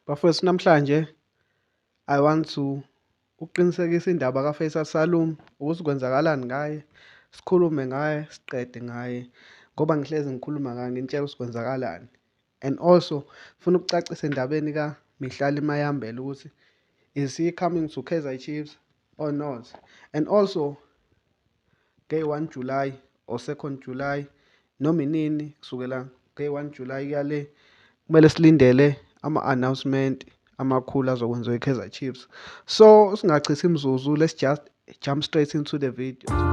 Bafowethu namhlanje I want to ukuqinisekisa indaba kaFaisal Salum ukuthi kwenzakalani ngaye sikhulume ngaye siqede ngaye ngoba ngihlezi ngikhuluma ngaye ngintshela ukuthi kwenzakalani and also funa ukucacisa endabeni kaMihlali Mayambela ukuthi is he coming to Kaizer Chiefs or not and also day 1 July or 2nd July noma inini kusukela day 1 July kuyale kumele silindele ama-announcement amakhulu azokwenziwa i-kaizer chiefs so singachithi imzuzu let's just jump straight into the video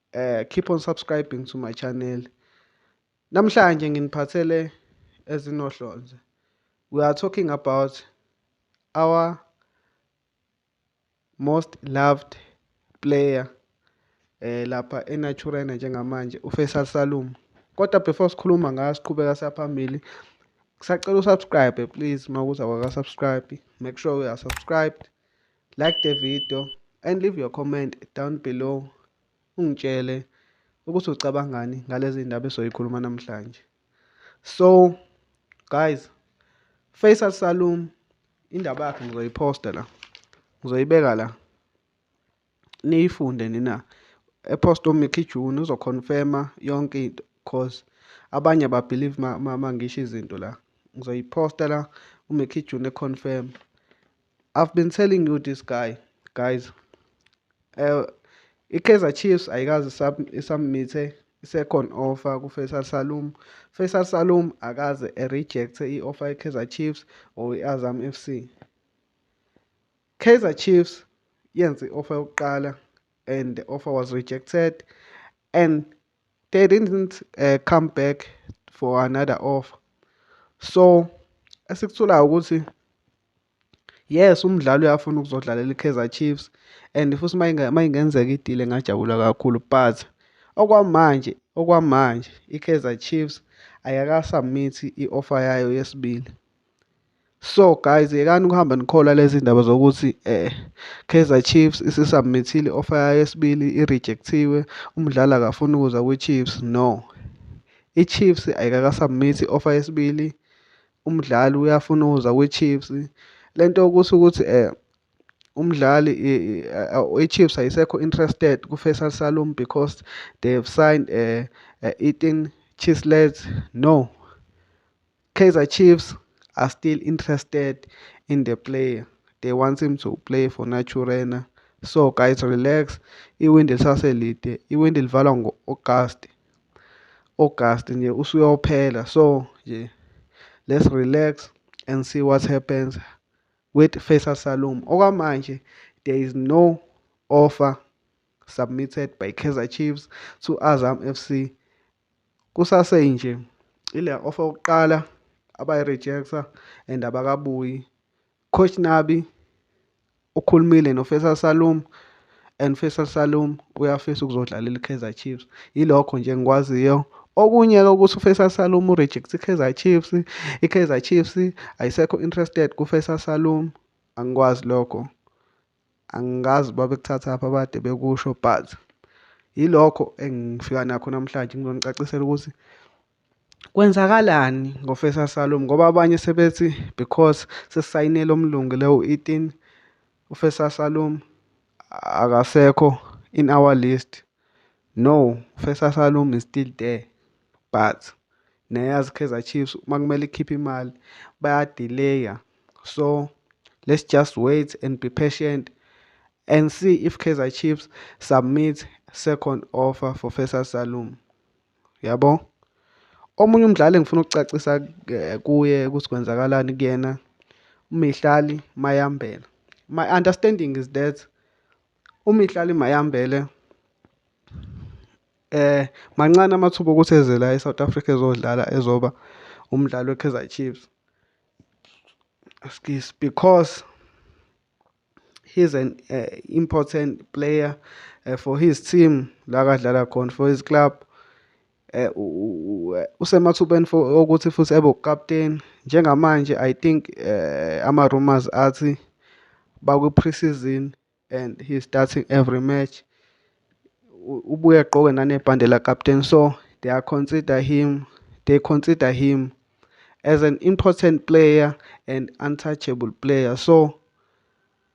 uh, keep on subscribing to my channel namhlanje nginiphathele ezinohlonze we are talking about our most loved player eh lapha eNaturena njengamanje uFaisal Salum kodwa before sikhuluma ngayo siqhubeka siyaphambili kusacela usubscribe please makuza kwaka subscribe make sure we are subscribed Like the video and leave your comment down below ungitshele ukuthi ucabangani ngalezi ndaba esoyikhuluma namhlanje. So guys, Faisal Salum indaba yakhe ngizoyiposta la. Ngizoyibeka la. Niyifunde nina. Epost uMickey June uzoconfirma yonke into cause abanye ba believe mangisho izinto la. Ngizoyiposta la uMickey June econfirm. I've been telling you this guy guys uh, i-Kaizer Chiefs ayikazi isubmithe i-second offer ku-Faisal Salum. Faisal Salum akaze e-rejecte i-offer ye-Kaizer Chiefs or i-Azam FC. Kaizer Chiefs yenze i-offer yokuqala and the offer was rejected and they didn't uh, come back for another offer. So esikutholayo ukuthi Yes umdlali uyafuna ukuzodlalela iKaizer Chiefs and futhi uma ingenzeka idile ngajabula kakhulu but okwamanje okwamanje iKaizer Chiefs ayakasubmithi i-offer yayo yesibili. So guys yekani ukuhamba nikholwa lezi ndaba zokuthi eh Kaizer Chiefs isisubmithile offer yayo yesibili irejectiwe umdlali akafuni ukuza kwiChiefs no. IChiefs ayikakasubmithi offer yesibili umdlali uyafuna ukuza kwiChiefs lento ukuthi ukuthi eh umdlali iChiefs ayisekho interested kuFaisal Salum because they have signed eh, eh Ethan Chislett no Kaizer Chiefs are still interested in the player they want him to play for Naturena so guys relax iwindi lisaselide iwindi livalwa ngo-Agasti August nje usuyophela so nje let's relax and see what happens with Faisal Salum okwamanje there is no offer submitted by Kaizer Chiefs to Azam FC kusase nje ile offer yokuqala abayi-rejecta and abakabuyi Coach Nabi ukhulumile noFaisal Salum and Faisal Salum uyafisa ukuzodlalela iKaizer Chiefs yilokho nje ngikwaziyo okunye-ke ukuthi uFaisal Salum ureject iKaizer Chiefs iKaizer Chiefs ayisekho interested kuFaisal Salum angikwazi lokho angikazi uba bekuthathaphi abade bekusho but yilokho engifika nakho namhlanje ngizonicacisela ukuthi kwenzakalani ngofesa salom ngoba abanye sebethi because sesisayinele omlungu lewo 18 ufesa salom akasekho in our list no ufesa salom is still there but Neyaz Kaizer Chiefs uma kumele ikhiphe imali bayadileya so let's just wait and be patient and see if Kaizer Chiefs submit second offer for Faisal Salum yabo omunye umdlali engifuna ukucacisa eh, kuye ukuthi kwenzakalani kuyena uMihlali Mayambela my understanding is that uMihlali Mayambele um mancane amathuba okuthi eze la e-South Africa ezodlala ezoba umdlali we-Kaizer Chiefs excuse because he's an uh, important player uh, for his team la kadlala khona for his club Eh, usemathubeni okuthi futhi ebe ukapteni njengamanje i think eh, ama-rumors athi bakwi-pre-season and he's starting every match ubuye agqoke nanebhande lakapteni so they are consider him they consider him as an important player and untouchable player so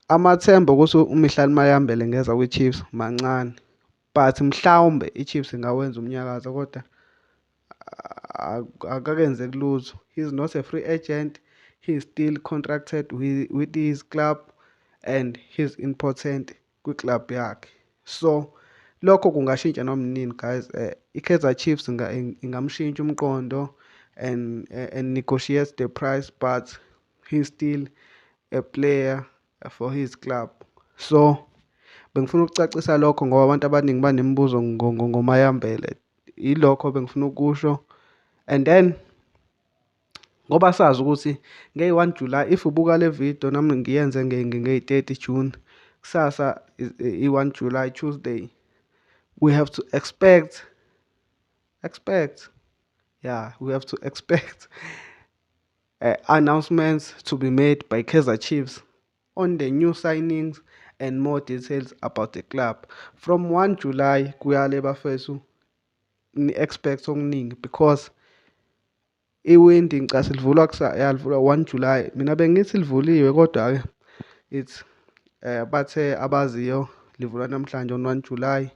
amathemba ukuthi uMihlali Mayambele ngeza kwiChiefs mancane but mhlawumbe iChiefs ingawenza umnyakazo kodwa akakenze kulutho he is not a free agent he is still contracted with, with his club and he is important kwi-club yakhe so lokho kungashintsha noma nini guys uh, i-kaizer chiefs ingamshintsha umqondo and, uh, and negotiate the price but he is still a player for his club so bengifuna ukucacisa lokho ngoba abantu abaningi banemibuzo ngomayambele yilokho bengifuna ukusho and then ngoba sazi ukuthi ngey-one july if ubuka le video nami ngiyenze ngey-thirty june kusasa i-one july tuesday we have to expect expect yeah we have to expect uh, announcements to be made by Kaizer Chiefs on the new signings and more details about the club. From 1 July kuyale bafethu ni expect okuningi because iwindi ngicase livulwa yalivulwa 1 July. Mina bengithi livuliwe kodwa ke it's eh bathe abaziyo livulwa namhlanje on 1 July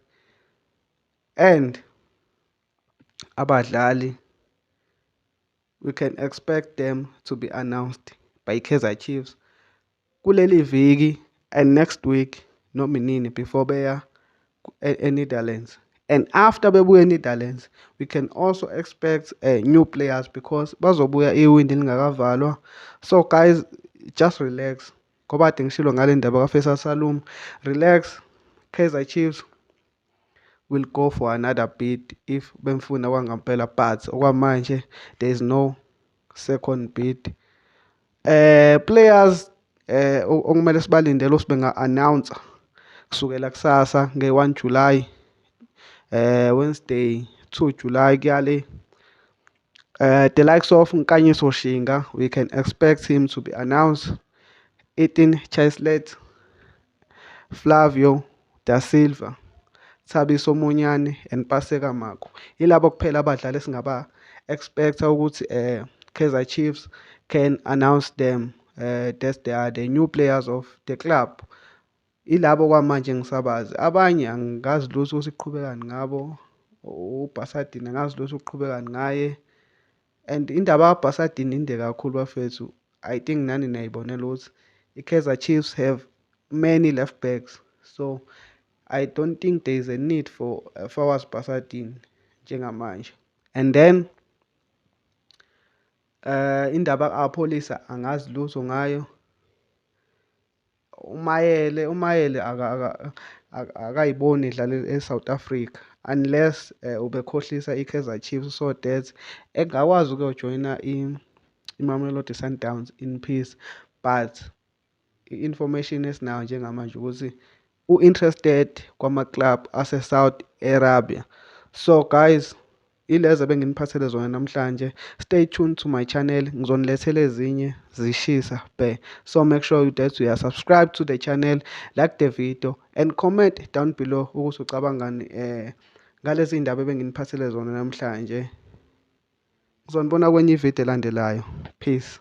and abadlali We can expect them to be announced by Kaizer Chiefs kuleli viki and next week noma inini before beya e-Netherlands. And after bebuya e-Netherlands, we can also expect uh, new players because bazobuya iwindi lingakavalwa. So guys, just relax. Ngoba kade ngishilo ngale ndaba kaFaisal Salum. Relax. Kaizer Chiefs will go for another bid if bemfuna kwangampela but okwamanje there is no second bid eh players eh okumele sibalindele ukuthi benga announce kusukela kusasa nge-1 July eh Wednesday 2 July kuyale Uh, the likes of Nkanyiso Shinga, we can expect him to be announced. Ethan Chislett, Flavio Da Silva, Thabiso Monyane and Paseka Mako. Yilabo kuphela abadlali esingaba expecta ukuthi eh Kaizer Chiefs can announce them uh, that they are the new players of the club. Ilabo kwamanje ngisabazi. Abanye angikazi lutho ukuthi kuqhubekani ngabo. UBhasadini angazi lutho ukuqhubekani ngaye. And indaba yabhasadini inde kakhulu bafethu. I think nani niyayibonela ukuthi i-Kaizer Chiefs have many left backs. So I don't think there is a need for uh, Fawaz Basadini njengamanje. And then uh indaba kapholisa angazi lutho ngayo. umayele umayele akayiboni idlala e-south africa unless um ubekhohlisa i-kaizer chiefs so that engakwazi ukuyojoyina imamelodi sundowns in peace but i-information esinayo njengamanje ukuthi u-interested kwama-club ase-Saudi Arabia. So guys, ilezo ebenginiphathele zona namhlanje. Stay tuned to my channel, ngizonilethela ezinye zishisa bhe. So make sure you that you are subscribed to the channel, like the video and comment down below ukuthi ucabangani eh ngalezi iy'ndaba ebenginiphathele zona namhlanje. Ngizonibona kwenye ividiyo elandelayo. Peace.